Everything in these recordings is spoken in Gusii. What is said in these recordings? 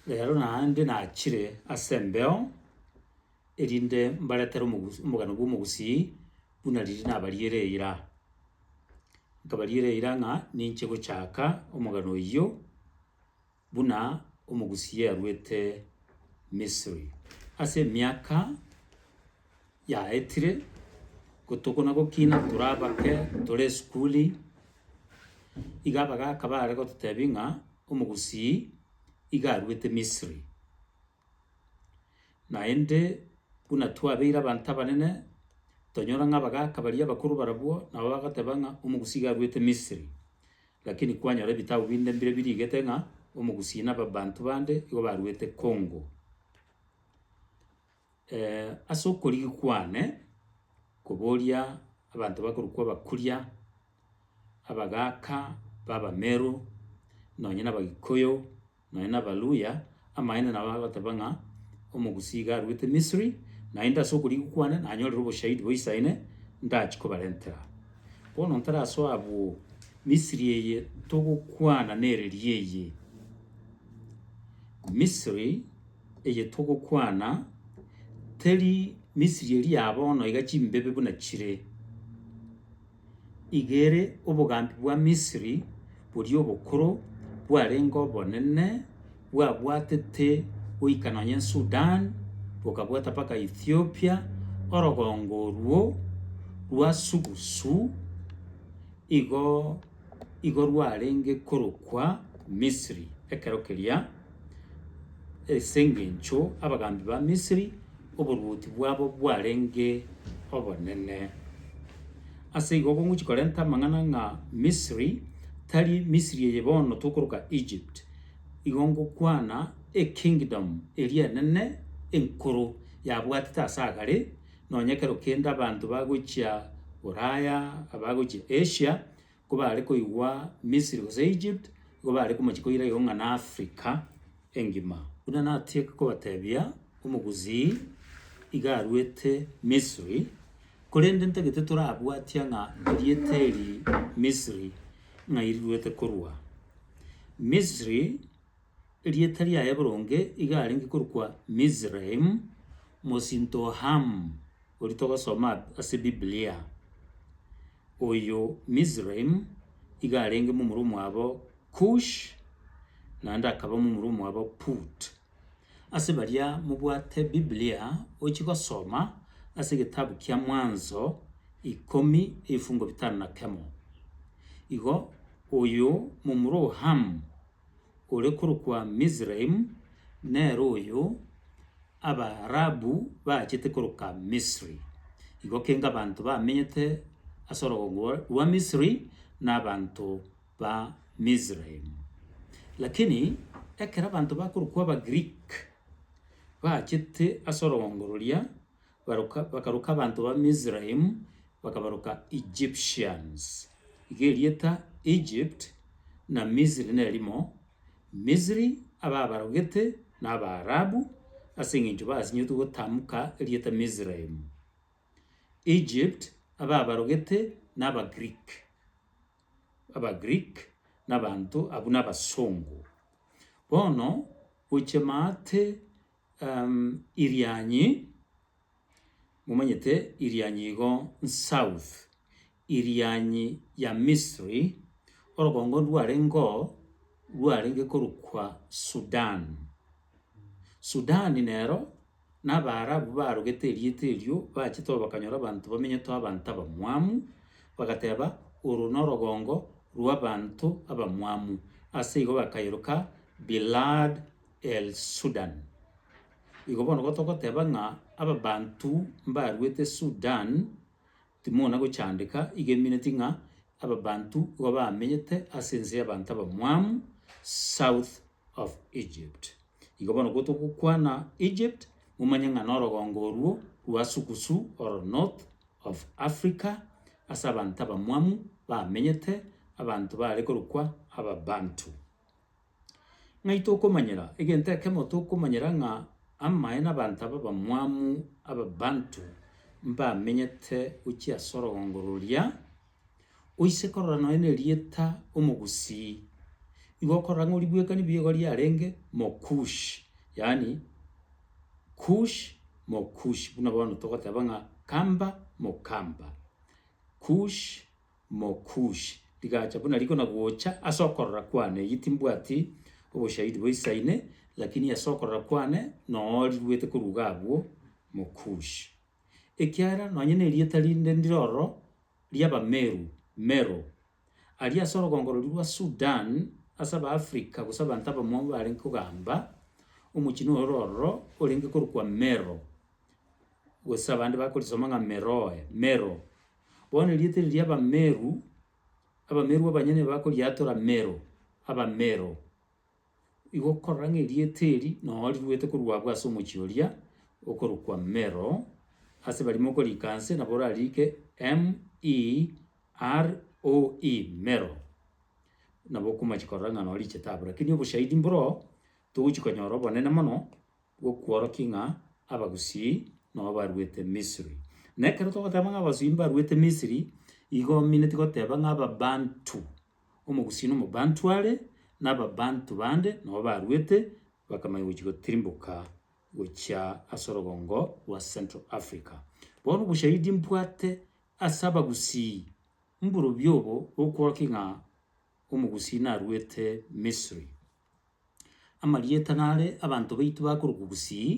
Reero naende nachire ase embeo, erinde mbaretere omogusu omogano bw'omogusii, buna riria nabariere eira. Nkabariera eira ng'a ninche gochaka omogano oyio, buna omogusii aruete Misiri. Ase emiaka. yaetire, gotokona gokina tore abake tore esukuri, iga abagaka baare gototebia ng'a Omogusii iga aruete Misiri. Naende buna twabeire abanto abanene, tonyora ng'a abagaka baria abakoro barabwo nabo bagoteba ng'a Omogusii iga aruete Misiri. Lakini kwanyora ebitabu binde mbire birigete ng'a Omogusii na abanto bande igo baruete Congo. ase okorigi kwane, koboria abanto bakorokwa abakuria, abagaka b'abameru, nonye na abagikuyu, nonye na abaluhya, amaene nabo bagoteba ng'a omogusii iga aruete misiri, naende ase okorigwa kwane nanyorire oboshahidi boisaine, ndachie kobarentera. Bono ntarasoe abwo, misiri eye togokwana nere riaye, misiri. eye togokwana, teri Misiri eria ya bono iga chimbebe buna chire. Iga ere obogambi bwa Misiri boria obokoro bwarenge obonene, bwabwatete goika nonye Sudan, bokabwata mpaka Ethiopia, orogongo oruo rwa sugusu igo igo rwarenge korokwa Misiri ekero keria. As'engencho abagambi ba Misiri oboruoti bwabo bwarenge obonene. Ase igo okongochia korenta amang'ana ng'a Misiri tari Misiri eye bono tokoroka Egypt, igo ngokwana ekingdom eria enene enkoro yabwatete ase agare, nonya ekero kende abanto bagochia Ulaya, abagochia Asia, kobaare koigwa Misiri gose Egypt, igo bare komochie koira igoro ng'a n'Africa engima. Buna natiga kobatebia, omogusii iga aruete Misiri, korende ntagete torabwatia ng'a rieta eri Misiri ng'ai riruete korwa. Misiri, erieta riaye boronge iga arenge korokwa Mizraim, mosinto o Ham, oria togosoma ase Biblia. Oyio Mizraim iga arenge momura omwabo Kush, naende akaba momura omwabo Put. Ase baria mobwate Biblia oche gosoma ase egetabu kia Mwanzo ikomi ebifungo bitano na kemo. Igo oyio momura o Ham. ore korokwa Mizraim, nere oyo Abaarabu baachete koroka Misri. Igo kenge abanto bamenyete ase orogongo rwa Misri nabanto ba Mizraim. Lakini ekero abanto bakorokwa Abagiriki baachete ase orogongo roria, baruka bakaruka abanto ba Misraim, bakabaruka Egyptians. Iga erieta Egypt na Misiri nerimo, Misiri ababarogete na Abaarabu, ase engencho basinyetwe gotamuka erieta Misraim. Egypt ababarogete na Abagreek, Abagreek nabanto abwo nabasongo. Bono gochia maate. Irianyi, momanyete Irianyi igo south, Irianyi ya Misri, orogongo rwarengeo rwarenge korokwa Sudan. Sudan nero na Abaarabu barogete erieta erio bachete oro bakanyora abanto bamenyete abanto abamwamu, bagateba oro norogongo rw'abanto abamwamu, ase igo bakayeroka Bilad El Sudan. Igo bono gotogoteba ng'a ababanto mbaruete Sudan, timona gochandeka, igo emineti ng'a ababanto igo bamenyete ase ense y'abanto abamwamu, south of Egypt. Igo bono gotogokwana Egypt, momanye ng'a norogongo orwo rwa sugusu oro north of Africa, ase abanto abamwamu bamenyete, abanto baare korokwa ababanto. Ng'ai tokomanyera? Egento ekemo tokomanyera ng'a amaene abanto aba abamwamu Ababanto mbamenyete gochia ase orogongo roria, oise korora nonya nerieta Omogusii, igo okorora ng'a oribwekani bigo riarenge Mokush, yaani Kush Mokush, buna bono togoteba ng'a Kamba Mokamba, Kush. Mokushi, rigacha buna riko na gocha ase okorora kwane, eyio timbwati oboshahidi boisaine, lakini ase okorora kwane noo riruete koruga abwo, Mokushi. Ekiagera nonye nerieta rinde ndire ororo ri'Abameru, Mero. Aria ase orogongo roria rwa Sudan, ase Abaafrika gose abanto abamwamu barenge kogamba, omochenu ore ororo orenge korokwa Mero, gose abande bakorisoma ng'a Meroe, Mero, Bono erieta eri ri'Abameru, Abameru abanyene bakoriatora Mero, Abamero. Igo okorora ng'a erieta eri nonya riruete korwa abwo ase omochie oria okorokwa Mero, ase baria mokoriika nse nabo orariike M-E-R-O-E, Mero. Nabo okomachia korora ng'a nonya richete abwo. Rakini oboshahidi mboro togochi konyora obonene mono, bw'okworokia ng'a Abagusii nao baruete Misiri. Na ekero togoteba ng'a Abagusii mbaruete Misiri, igo omineti goteba ng'a Ababantu, Omogusii na Omobantu are, na Ababantu bande nao baruete, bakamanya gochia gotirimboka gochia ase orogongo rwa Central Africa. Bono oboshahidi mbwate ase Abagusii mborobio obo bw'okworokia ng'a Omogusii naruete Misiri. Amarieta nare abanto baito bakorokwa Gusii,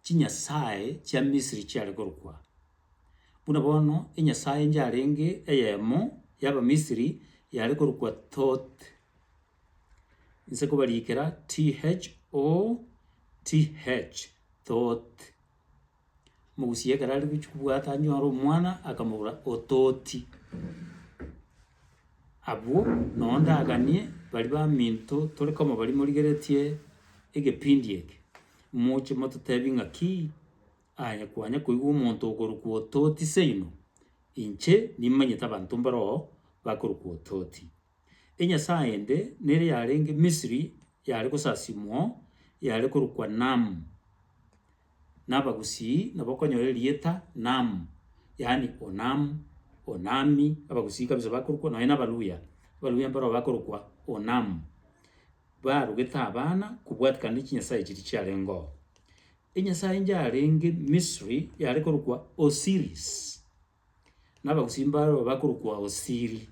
chinyasae chia Misiri chiare korokwa aa. Buna bono enyasae yarenge eyemo y'Abamisiri yare korokwa Thoth, inse kobariikera THOTH, Thoth. Omogusia ekero are gochia kobwata anyore omwana, akamobora, ototi. Abwo noo ndaganie baria baminto tore koma baria morigeretie egepindi eke, moche mototebie ng'aki aye kwanya koigwa omonto okorokwa ototi seino, inche nimanyete abanto mbaroo bakorokwa ototi. Enyasae ende nere yarenge Misiri yare gosasimwa yare korokwa Nam, na Abagusii nabo okonyora erieta Nam, yaani Onam, Onami, Abagusii kabisa bakorokwa nonye na Abaluya, Abaluya mbaroo bakorokwa Onam, barogete abana kobwatikana ne chinyasae chiria chiarengeo. Enyasae engiya yarenge Misiri yare korokwa Osiris. na abagusii mbaroo bakorokwa Osiri,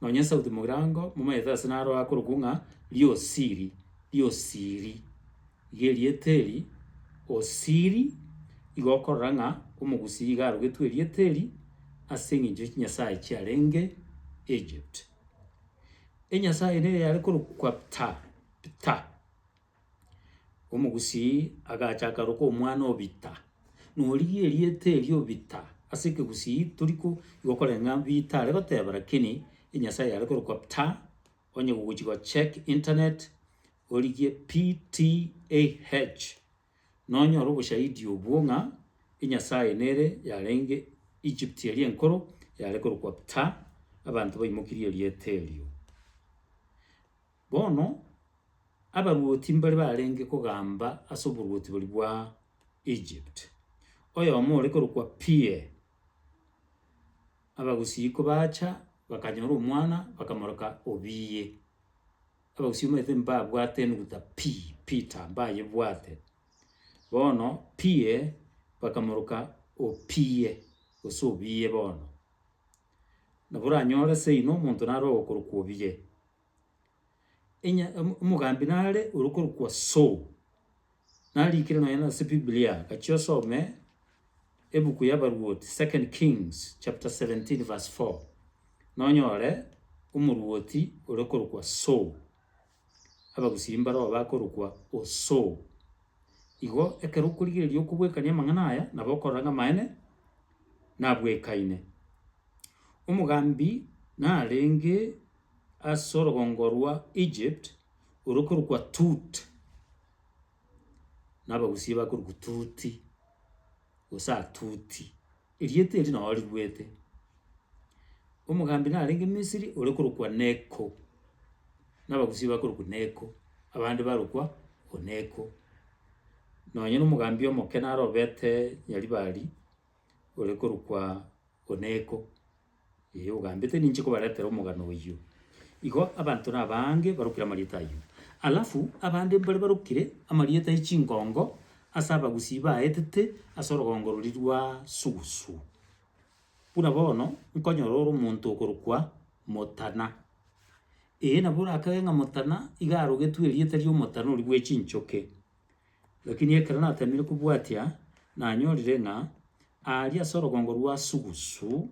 nonya Sauti Mogirango momaete ase naro akorokwa ng'a Riosiri, Riosiri. Iga erieta eri Osiri igo okorora ng'a omogusii iga arogetwe erieta eri ase eng'encho ya chinyasae chiarenge Egypt. Enyasae ere yare korokwa Ptah, Ptah. Omogusii agacha akaroka omwana Obita, na origie erieta erio Obita ase ekegusii tori ko igwa koreng'a Bita are goteba lakini enyasae yare korokwa Pta, onye gogochi go check internet origie PTAH nonyore oboshahidi obwo ng'a enyasae nere yarenge Egypt eria enkoro yare korokwa Pta, abanto baimokirie erieta erio. Bono abaruoti mbare barenge kogamba ase oboruoti boria bwa Egypt. Oyomo ore korokwa Peer. Abagusii kobacha bakanyora omwana bakamoroka Obiye. Abagusii omanyete mbabwate enuguta P, Peter, mbayebwate. Bono Peer bakamoroka Opiye gose Obiye bono. Nabo oranyore seino omonto naro ogokorokwa Obiye. Enya omo- omogambi nare orokorokwa Saul, narikire nonye nase biblia, gachia osome ebuku y'Abaruoti, Second Kings chapter seventeen verse four, nonyore omoruoti orokorokwa Saul, abagusii mbaroo bakorokwa o Saul. Igo ekero okorigereria okobwekania amang'ana aya, nabo okorora ng'a amaene nabwekaine. Omogambi narenge ase orogongo rwa Egypt orokorokwa Tut, na Abagusie bakorokwa Tuti, gose Atuti, erieta eri nao rigwete. Omogambi narenge Misiri ore korokwa Neko, na Abagusie bakorokwa Neko, abande barokwa Oneko. Nonye na omogambi omoke narobete Nyaribari ore korokwa Oneko. Ee, ogambete ninche kobaretera omogano oyio. Igo abanto nabaange barokire amarieta ayio. Alafu abande mbare barokire amarieta e chingongo ase abagusii baetete ase orogongo roria rwa Sugusu. Buna bono nkonyora ore omonto okorokwa Motana. Ee, nabo orakage ng'a Motana iga arogetwe erieta ri'omotana oria bwe chinchoke. Lakini ekero nateemire kobwatia, nanyorire ng'a aaria ase orogongo rwa Sugusu,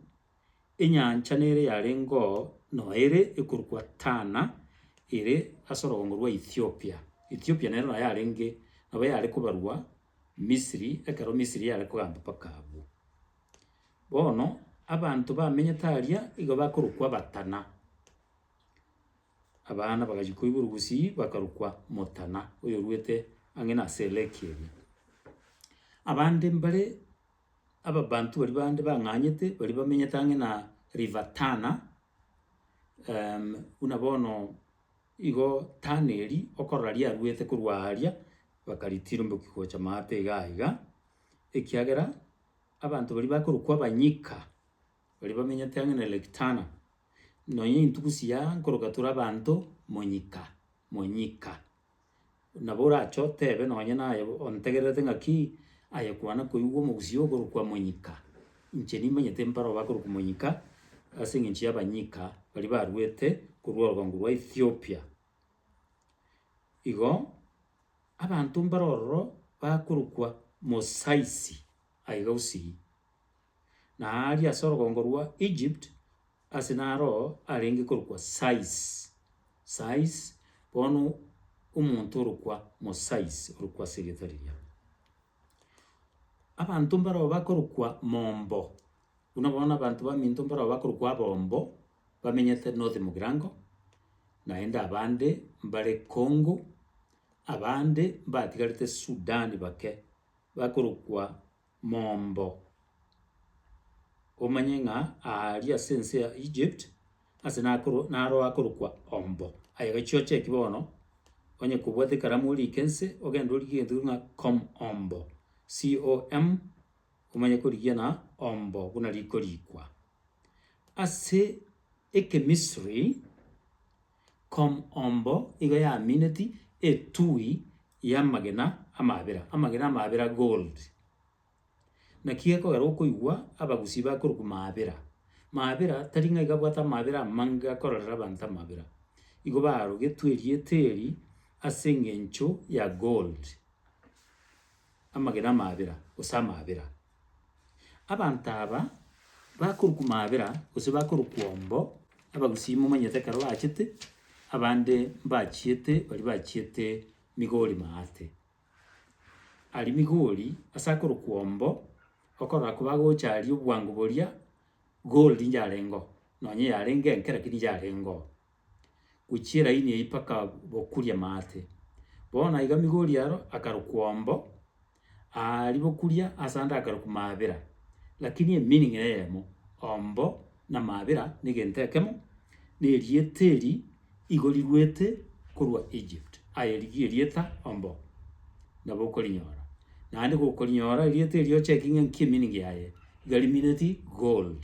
enyancha nere yarengeo noere ekorokwa Tana, ere ase orogongo rwa Ethiopia. Ethiopia nero naye arenge nabo yare kobarwa Misiri, ekero Misiri yare kogamba mpaka abwo. Bono abanto bamenyete aaria igo bakorokwa Abatana. Abana bagachia koigwa orogusii bakarokwa Motana, oyorwete ang'e na ase elake eria. Abande mbare ababanto baria bande bang'anyete baria bamenyete ang'e na River Tana, buna bono igo Tana eria okorora riarwete korwa aaria, bakaritiriboki gocha maate igaa igaa, ekiagera abanto baria bakorokwa abanyika. baria bamenyete ang'e na Lake Tana, nonya intuko chia nkoroka tore abanto monyika monyika. Nabo orache otebe nonye naye ontegererete ng'aki, aye kwana koigwa omogusii okorokwa monyika, inche nimanyete mpare obo akorokwa monyika, ase eng'encho y'abanyika baria baruete korwa orobango rwa Ethiopia. Igo, abanto mbare ororo bakorokwa mosaisi aiga gusii. na aaria ase orogongo rwa Egypt, ase naro arenge korokwa Sais, Sais, bono omonto orokwa Mosais orokwa ase erieta riria. Abanto mbarabwo bakorokwa mombo, buna bono na abanto baminto mbarabwo bakorokwa abombo, bamenyete north mogirango, naende abande mbare Congo, abande mbatigarete Sudan bake, bakorokwa. mombo. Omanye ng'a aaria ase ense ya Egypt, ase nakoro naro akorokwa Ombo. Aye gachioche eki bono, onye kobwate ekaramu orike ense, ogende origie egento keria buna Com Ombo, C-O-M, omanye korigia na Ombo buna rikorikwa. Ase Ekemisiri. Com. Ombo igo yamineti etui y'amagena amabera, amagena amabera, gold. Naki gekogera okoigwa abagusii bakorokwa mabera. Mabera tari ng'ai gabwate amabera amange gakororera abanto amabera. Igo barogetwe erieta eri ase eng'encho ya gold, amagena amabera, gose amabera. Abanto aba bakorokwa maabera, gose bakorokwa ombo, abagusii momanyete ekero bachete, abande mbachiete, baria bachiete Migori maate. Aria Migori ase akorokwa ombo, okorora kobagocha aria obwango boria gold ncharengo, nonye yarenge enke rakini ncharengo. Gochia elaini eyio mpaka bokuria maate. Bono naiga Migori aro akarokwa ombo. Aa ribokuria asande akare komaabera, lakini emeaning neyemo, ombo namaabera negento ekemo, nerieta eri igo riruete korwa Egypt. Aye rigie erieta ombo, nabo okorinyora. Naende gokorinyora erieta eri ochecking ng'a nki emeaning yaye, iga rimineti gold.